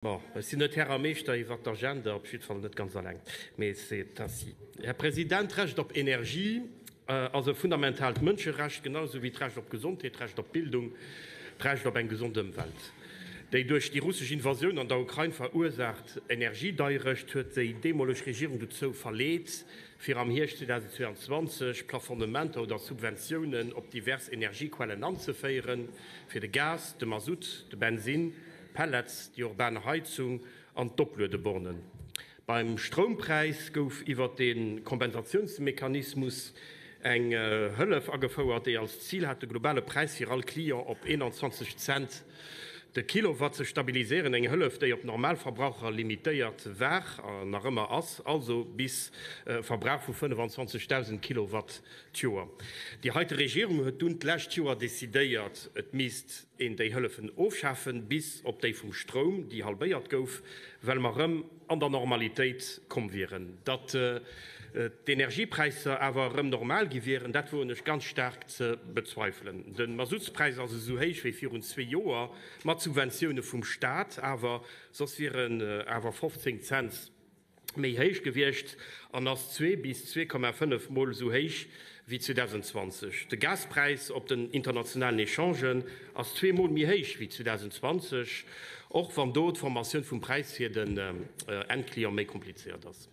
Bon, ech sinn net Här a Meeschter iwwert d'Agenda, op jiddwer Fall net ganz alleng. Mais c'est ainsi. Här President, d'Recht op Energie ass e fundamentaalt Mënscherecht, genausou wéi d'Recht op Gesondheet, d'Recht op Bildung, d'Recht op eng gesond Ëmwelt. Déi duerch déi russesch Invasioun an der Ukrain verursaacht Energiedeierecht huet déi deemoleg Regierung dozou verleet, fir am Hierscht 2022 Plafonnementer oder Subventiounen op divers Energiequellen anzeféieren, fir de Gas, de Mazout, de Bensinn, Pellets, déi urban Heizung an d'Opluedebornen. Beim Stroumpräis gouf iwwert de Kompensatiounsmechanismus eng Hëllef agefouert, déi als Zil hat de globale Präis fir all Client op 21 Cent de Kilowatt ze stabiliséieren. Eng Hëllef, déi op Normalverbraucher limitéiert war a nach ëmmer ass, also bis e Verbrauch vu 25.000 Kilowatt d'Joer. Déi heite Regierung huet dunn d'lescht Joer decidéiert, et misst. een déi hëllefen ofschafen, bis op déi vum Stroum, déi halbéiert gouf, well mer erëm an der Normalitéit komm wieren. Datt d'Energiepräisser awer erëm normal gi wieren, dat woen ech ganz staark ze bezweifelen. De Masutspräis ass esou héich wéi virun zwee Joer, mat Subventioune vum Staat awer, soss wieren awer 15 Cents. méi héich gewiescht an ass zwee bis zwee Komma fënnef Mol esou héich wéi 2020. De Gaspräis op den internationalen Echangen ass zwee Mol méi héich wéi 2020, och wann do d'Formatioun vum Präis fir den Endclient méi komplizéiert ass.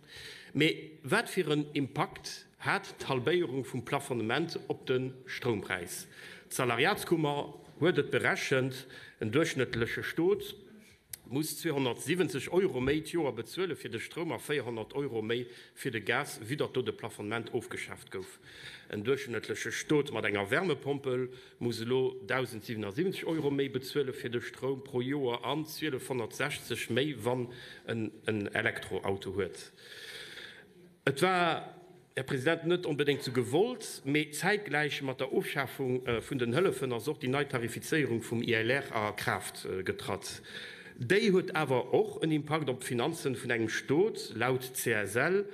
Mee wat fir en Impakt hat d'Halbéierung vum Plafonnement op de Stroumpräis? D'Salariatskummer huet et berechent, en duerchschnëttleche Stot. muss 270 Euro méi d'Joer bezuele fir de Stroum a 400 Euro méi fir de Gas, vue datt do de Plafonnement ofgeschaaft gouf. En duerchschnëttleche Stot mat enger Wärmepompel muss elo 1.077 Euro méi bezuele fir de Stroum pro Joer an 1.260 méi, wann en en Elektroauto huet. Et war. Här President, net onbedéngt zu gewollt, mee zäitgläich mat der Ofschafung vun den Hëllefen ass och déi nei Tarifizéierung vum ILR a Kraaft getratt. Déi huet awer och en Impakt op d'Finanzen vun engem Stot, laut CSL,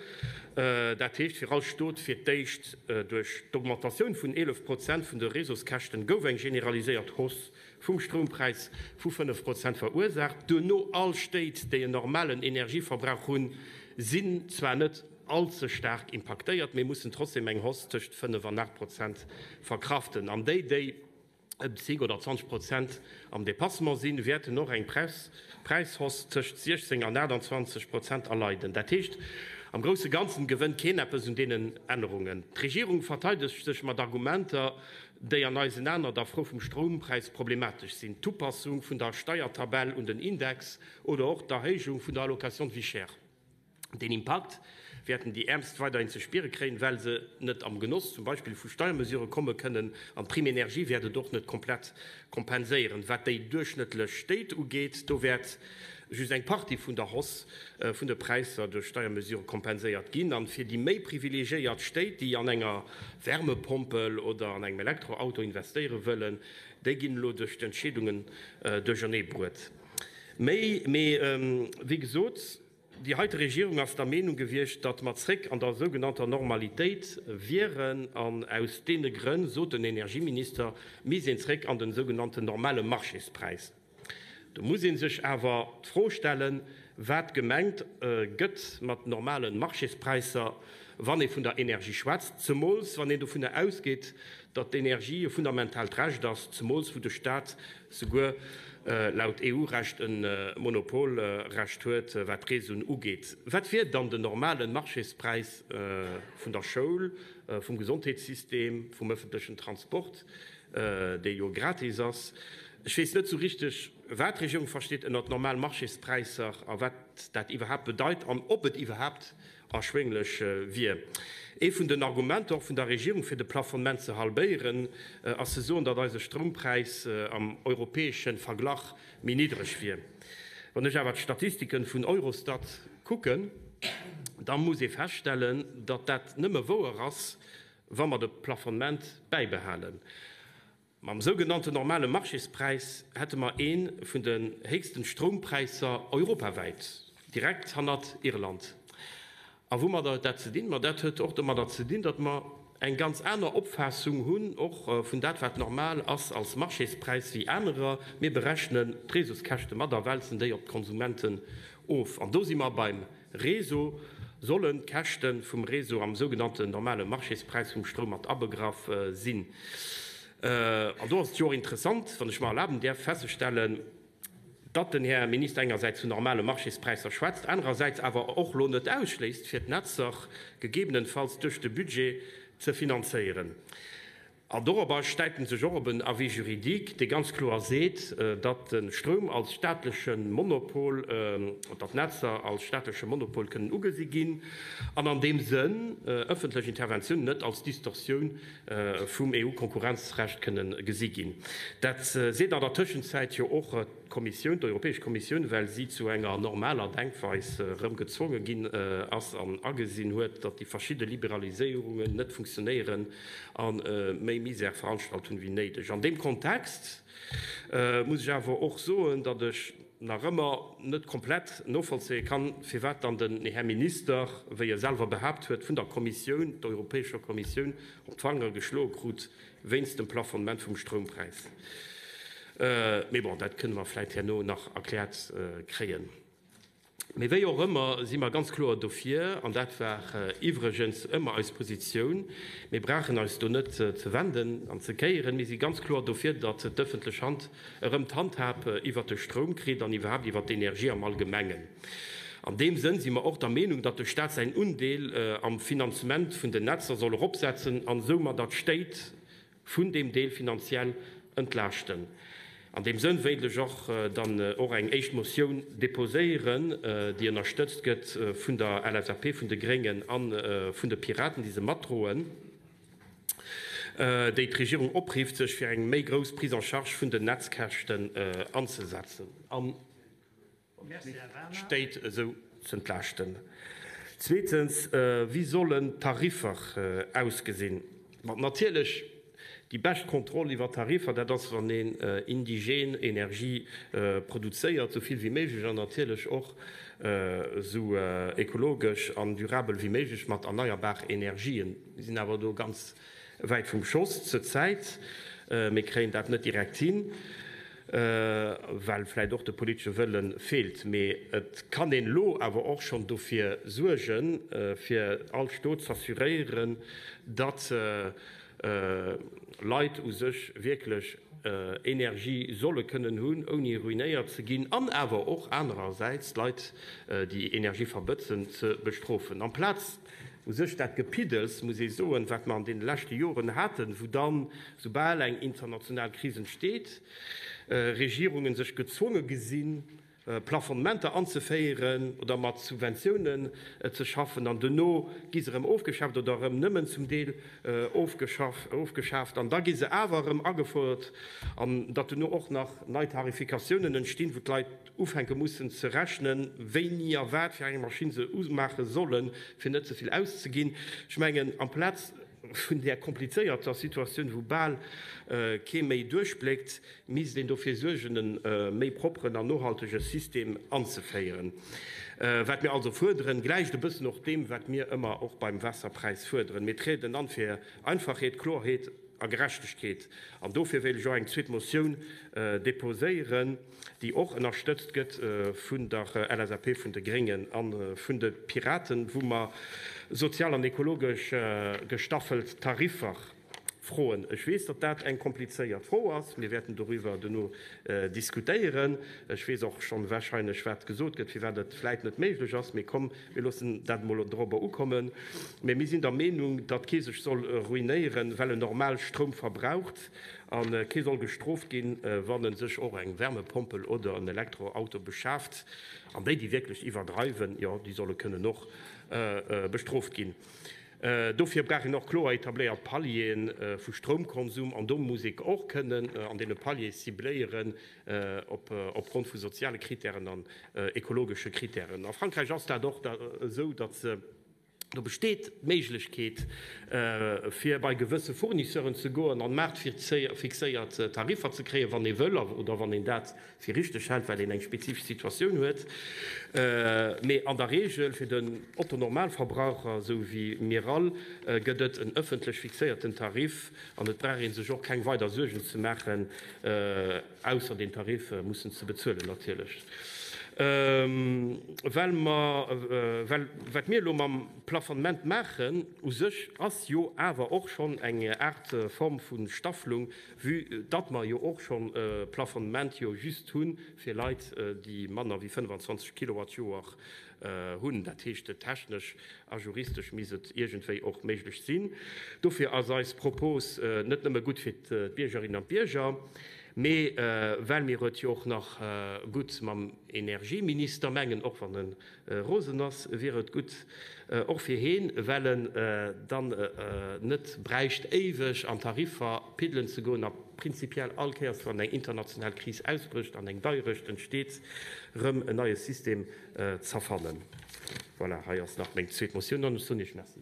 dat heescht fir all Stot. Fir d'éischt duerch d'Augmentatioun vun 11 Prozent vun de Réseauskäschten gouf eng generaliséiert Hausse vum Stroumpräis vu 5 Prozent verursaacht. Duerno all Stéit, déi en normalen Energieverbrauch hunn, sinn zwar net. all ze staark impaktéiert, mee mussen trotzdeem eng Hausse tëscht 5 an 8 Prozent verkraften. An déi, déi ëm 10 oder 20 Prozent am Dépassement sinn, wäerten och eng Präishausse tëscht 16 an 28 Prozent erleiden. Dat heescht, am grousse Ganzen gewënnt keen eppes un deenen Ännerungen. D'Regierung verteidegt sech mat Argumenter, déi an eisen Aen an der Fro vum Stroumpräis problematesch sinn, d'Upassung vun der Steiertabell un den Index oder och d'Erhéijung vun der Allocation de vie chère. Deen Impakt wäerten déi Äermst weiderhin ze spiere kréien, well se net am Genoss zum Beispill vu Steiermesure komme kënnen. An d'Prime énergie wäert et och net komplett kompenséieren. Wat déi duerchschnëttlech Stéit ugeet, do wäert just eng Partie vun der Hausse vun de Präisser duerch Steiermesure kompenséiert ginn. A fir déi méi privilegiéiert Stéit, déi an enger Wärmepompel oder an engem Elektroauto investéiere wëllen, déi ginn elo duerch d'Entscheedungen duerchernee bruet. Mee, wéi gesot. Déi heite Regierung ass der Meenung gewiescht, datt mer zréck an der sougenannter Normalitéit wieren an aus deene Grënn, sot den Energieminister, misst een zréck an den sougenannten normale Marchéspräis. Do muss ee sech awer d'Fro stellen, wat gemengt gëtt mat normalen Marchéspräisser, wann ee vun der Energie schwätzt, zemools wann een dovunner ausgeet, datt d'Energie e fundamentaalt Recht ass, zemools wou de Staat souguer laut EU-Recht e Monopolrecht huet, wat d'Preesun ugeet. Wat wier dann den normalen Marchéspräis vun der Schoul, vum Gesondheetssystem, vum ëffentlechen Transport, dee jo gratis ass? Ech weess net sou richteg, wat d'Regierung versteet ënnert normal Marchéspräisser a wat dat iwwerhaapt bedeit an ob et iwwerhaapt Erschwénglech wier ee vun den Argumenter och vun der Regierung fir de Plafonnement ze halbéieren, ass ze soen, datt eise Stroumpräis am europäesche Verglach méi niddreg wier. Wann ech awer d'Statistike vun Eurostat kucken, da muss ee feststellen, datt dat nëmme wouer ass, wa mer de Plafonnement bäibehalen. Mam sougenannten normale Marchéspräis hätte mer ee vun den héchsten Stroumpräisser europawäit, direkt hannert Irland. A woumat huet dat ze dinn? Ma dat huet och domadder ze dinn, datt mer eng ganz aner Opfaassung hunn och vun dat wat normal ass als Marchéspräis wéi anerer. Mir berechnen d'Reseauskäschte mat a wälzen déi op d'Konsumenten of. An do si mer beim Réseau, sollen d'Käschte vum Réseau am sougenannten normale Marchéspräis vum Stroum mat abegraff sinn. An do ass et jo och interessant, wann ech mer erlaben däerf, festzestellen, datt den Här Minister engersäits vun normale Marchéspräisser schwätzt, anerersäits awer och elo net ausschléisst, fir d'Netzer gegebenenfalls duerch de Budget ze finanzéieren. An dorobber stäipen sech och op en Avis juridique, dee ganz kloer seet, datt de Stroum als staatleche Monopol, datt d'Netzer als staatleche Monopol kënnen ugesi ginn an an deem Sënn öffentlech Interventioun net als Distorsioun vum EU-Konkurrenzrecht kënne gesi ginn. Dat seet an der Tëschenzäit jo och d'Kommissioun, d'Europäesch Kommissioun, well si zu enger normaler Denkweis erëm gezwonge ginn ass an agesinn huet, datt déi verschidde Liberaliséierungen net funktionéieren, a méi Misèrveranstaltungen wéi néideg. An deem Kontext muss ech awer och soen, datt ech nach ëmmer net komplett novollzéie kann, firwat dann den Här Minister, wéi e selwer behaapt huet, vun der Kommissioun, der Europäescher Kommissioun, op d'Fanger geschloe krut wéinst dem Plafonnement vum Stroumpräis. Mee bon, dat kënnen mer vläicht herno nach erkläert kréien. Mee wéi och ëmmer si mer ganz kloer dofir, an dat war iwwregens ëmmer eis Positioun, mir brauchen eis do net ze wenden an ze kéieren, mir si ganz kloer dofir, datt d'ëffentlech Hand erëm d'Handhab iwwert de Stroum kritt an iwwerhaapt iwwert d'Energie am Allgemengen. An deem Sënn si mer och der Meenung, datt de Stat säin Undeel am Finanzement vun den Netzer soll eropsetzen an esou matter d'Stéit vun deem Deel finanziell entlaaschten. An deem Sënn wéilt ech och dann och eng éischt Motioun déposéieren, déi ënnerstëtzt gëtt vun der LSAP, vun de Gréngen a vun de Piraten, déi se matdroen, déi d'Regierung oprifft, sech fir eng méi grouss Prise en charge vun den Netzkäschten anzesetzen. Stéit esou ze entlaaschten? Zweetens, wéi sollen d'Tariffer ausgesinn? Bon, natierlech, déi bescht Kontroll iwwer d'Tariffer, dat ass, wann een indigen Energie produzéiert, esou vill wéi méiglech, an natierlech och esou ekologesch an durabel wéi méiglech mat erneierbar Energien. Mir sinn awer do ganz wäit vum Schoss zur Zäit, mir kréien dat net direkt hin. well vläit och de politesche Wëlle feelt. Mee et kann een elo awer och schonn dofir suergen, fir all Stot z'assuréieren, datt Leit u sech wierklech Energie solle kënnen hunn, ouni ruinéiert ze ginn, an awer och anerersäits d'Leit, déi Energie verbëtzen, ze bestrofen amplaz, U sech dat Gepiddels, muss ee soen, wat mer an deene leschte Joren haten, wou dann, soubal eng international Kris entsteet, Regierunge sech gezwonge gesinn, Plafonnementer anzeféieren oder mat Subventiounen ze schaffen, an duerno gi se erëm ofgeschaaft oder erëm nëmmen zum Deel ofgeschaaft an da gi se awer erëm agefuerdert, an datt duerno och nach nei Tarifikatiounen entstinn, wou d'Leit. ufänke mussen ze rechnen, wéini a wat fir eng Maschinn se umaache sollen, fir net ze vill auszeginn. Ech mengen, amplaz vun där komplizéierter Situatioun, wou bal kee méi duerchbléckt, misst een dofir suergen, e méi propperen an nohaltege System anzeféieren. Wat mir also fuerderen, gläicht e bëssen och deem, wat mir ëmmer och beim Waasserpräis fuerderen. Mir trieden an fir Einfachheet, Klorheet a Gerechtegkeet. An dofir wéilt ech och eng zweet Motioun deposéieren. déi och ënnerstëtzt gëtt vun der LSAP, vun de Gréngen a vun de Piraten, wou mer sozial an ekologesch gestaffelt Tariffer froen. Ech weess, datt dat eng komplizéiert Fro ass. Mir wäerten doriwwer duerno diskutéieren. Ech weess och schonn wahrscheinlech, wat gesot gëtt, firwat et vläit net méiglech ass. Mee komm, mir loossen dat emol dorobber ukommen. Mä mir sinn der Meenung, datt kee sech soll ruinéieren, well en normal Stroum verbraucht. a kee soll gestrooft ginn, wann e sech och eng Wärmepompel oder en Elektroauto beschaaft. An déi, déi wierklech iwwerdreiwen, jo, déi solle kënnen och bestrooft ginn. Dofir brauch een och kloer etabléiert Palieren vu Stroumkonsum, an do muss ee och kënnen an deene Paliere cibléieren opgrond vu soziale Krittären an ekologesche Krittären. A Frankräich ass dat och esou, datt se, Do besteet d'Méiglechkeet, fir bei gewësse Fournisseuren ze goen an maartfixéiert Tariffer ze kréien, wann ee wëll oder wann een dat fir richteg hält, well een eng spezifesch Situatioun huet. Mee an der Reegel fir den Otto-Normalverbraucher, esou wéi mir all, gëtt et en ëffentlech fixéierten Tarif an et brauch ee sech och keng weider Suergen ze maachen, Ausser den Tarif mussen ze bezuelen natierlech. Well mer, well wat mir elo mam Plafonnement maachen, u sech ass jo awer och schonn eng Aart Form vu Staffelung, vue datt mer jo och schonn e Plafonnement jo just hu fir Leit, déi manner wéi 25 Kilowattjoer hunn, dat heescht technesch a juristesch misst et iergendwéi och méiglech sinn. Dofir ass eis Propos net nëmme gutt fir d'Biergerinnen an d'Bierger, mee well mir et jo och nach gutt mam Energieminister mengen, och wann e rosen ass, wier et gutt och fir heen, well en dann net bräicht éiweg an Tariffer piddelen ze goen a prinzipiell all Kéiers wann eng international Kris ausbrécht an eng Deierecht entsteet, erëm en neie System z'erfannen. Voilà, hei ass nach meng zweet Motioun, dann soen ech Merci.